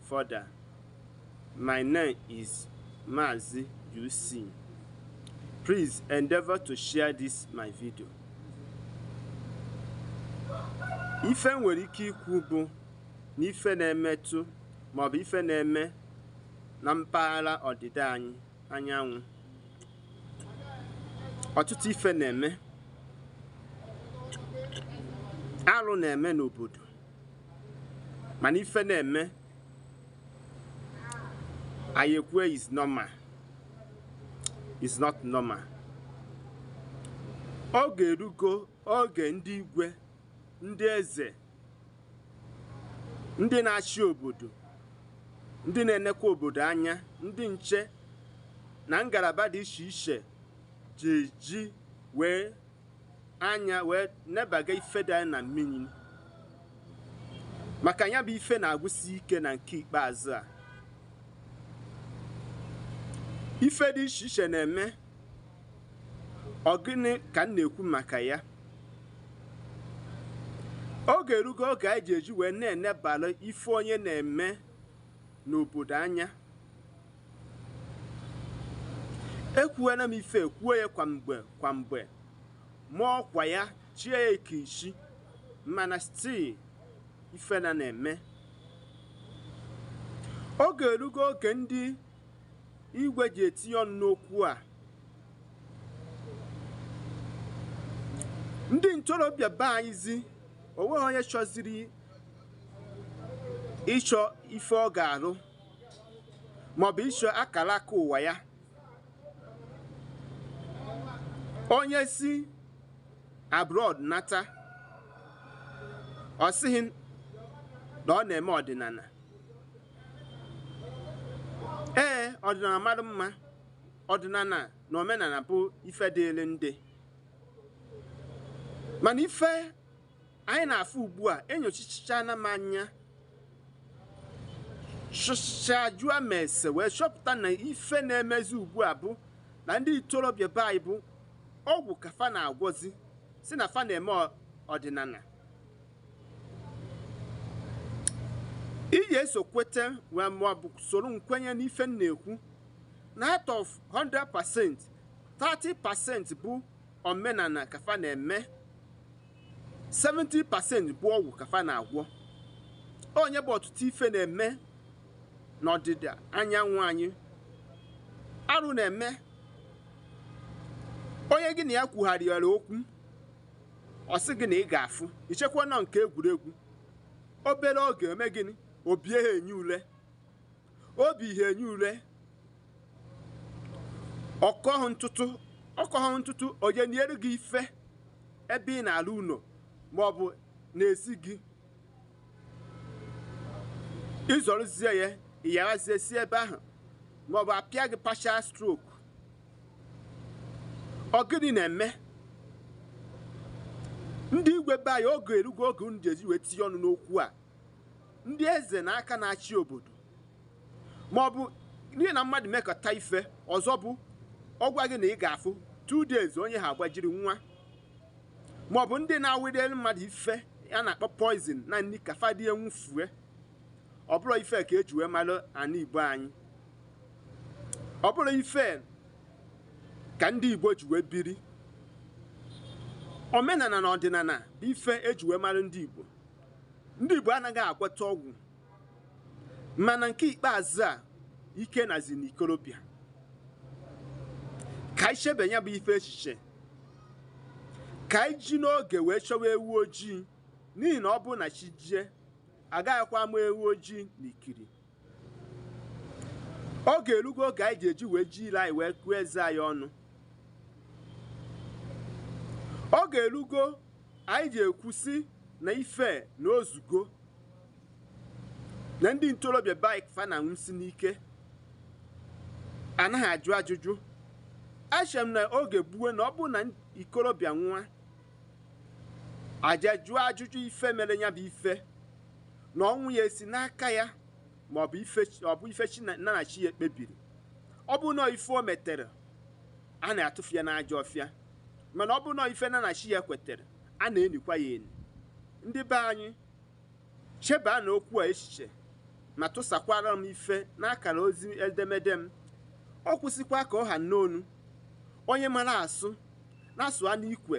Further, My name is Mazi UC. Please endeavor to share this my video. Ife nwere ike ikwu bụ na ife na-emetụ maọbụ ife na-eme na mpaghara ọdịda anyị anyanwụ. Ọtụtụ ife na-eme. Arụ na-eme n'obodo. mana ife na-eme anyị ekwue is normal is not normal oge erugo oge ndị igwe ndị eze ndị na-achị obodo ndị na-enekwa obodo anya ndị nche na ngalaba dị iche iche ji eji wee anya wee nebaga ife dị na mmiri maka ya bụ ife na-agwụsi ike na nke ikpeazụ a ife dị iche iche na-eme ọ gịnị ka m na-ekwu maka ya oge erugo oge anyị ji eji wee na-enebara ife onye na-eme n'obodo anya ekwuwela m ife a kwuo ya kwa mgbe kwa mgbe ma ọkwa ya chie ya ike isi mana still ife na na-eme oge erugo oge ndị igwe ji etinye ọnụ n'okwu a ndị ntorobịa be anyịzi onweghị onye chọziri ịchọ ife ọ ga-arụ maọbụ ịchọ akara aka ụwa ya onye si abroad nata ọ sị gị na ọ na-eme ọdịnala ee ọdịnala mara mma ọdịnala na omenala bụ ife dịịrị ndị mana ife anyị na-afụ ugbu a enyochichana m anya chọcha jụọ ma ese wee chọpụta na ife na-emezi ugbu a bụ na ndị ntorobịa be anyị bụ ọgwụ ka fa na-agwọzi sị na fa na-eme ọdịnala ị ga-eso kweta wee maọbụ soro m kwenye n'ife m na-ekwu na out of 100% 30% bụ omenala ka fa na-eme 70 pasent bụ ọgwụ ka fa na-agwọ onye bụ ọtụtụ ife na-eme n'ọdịda anyanwụ anyị arụ na-eme onye gị na ya kwugharịara okwu ọ sị gị na ị ga-afụ i chekwa na ọ nke egwuregwu obere oge e mee gịnị o bie gị enyi ule o bie enyi ule ọ kọhụ ntụtụ ọ kọhụ ntụtụ o niere gị ife ebe ị na-alụ ụnọ maọbụ n'ezi gị ị zọrọzie ya ị yawazie e si ebe ahụ maọbụ apịa gị partial stroke ọ gịnị na-eme ndị igwe be anyị oge erugo oge unu ji eji wee tinye ọnụ n'okwu a ndị eze na aka na-achị obodo ma ọ bụ gị na mmadụ mekọta ife ọzọ bụ ọ gwa gị na ị ga-afụ two days onye ahụ agbajiri nwụa ma ọ bụ ndị na-awụnyere mmadụ ife a na-akpọ poison na nni ka fa rie nwụfue ọ bụrọ ife a ka e ji wee malụ ana igbo anyị ọ bụrọ ife a ka ndị igbo ji wee biri omenana na ọdịnana bụ ife e ji wee mara ndị igbo Ndị Igbo anaghị agwọta ọgwụ mana nke ikpeazụ a ike nazi n'ikolobịa ka anyị chebe nya bụ ife echiche ka anyị ji n'oge wee chọwa ewu ojii n'ihi na ọ bụrụ na chi jie a gaghịkwa ama ewu ojii na ikiri oge erugo oge anyị ji eji wee ji ile anyị wee gụọ eze anyị ọnụ oge erugo anyị ji ekwusi na ife na ozugo na ndị ntorobịa be anyị ka fa na-anwụsị n'ike anaghị ajụ ajụjụ echere m na oge gboo na ọ bụrụ na ikorobịa nwụa a ja jụọ ajụjụ ife mere nya bụ ife na ọnwụ ya si n'aka ya ma ọ bụ ife ọ bụ ife chi na nya na chi ya kpebiri ọ bụ na ọ ife o metere a na-atụfu ya n'ajọ ọfịa mana ọ bụrụ na ọ ife nya na chi ya kwetere a na-enikwa ya eni ndị be anyị chebaanụ okwu a echiche ma tụsakwara m ife n'akara ozi edemede m ọ kwụsịkwa ka ọ ha n'onu onye mara asụ nya sụa n'ikwe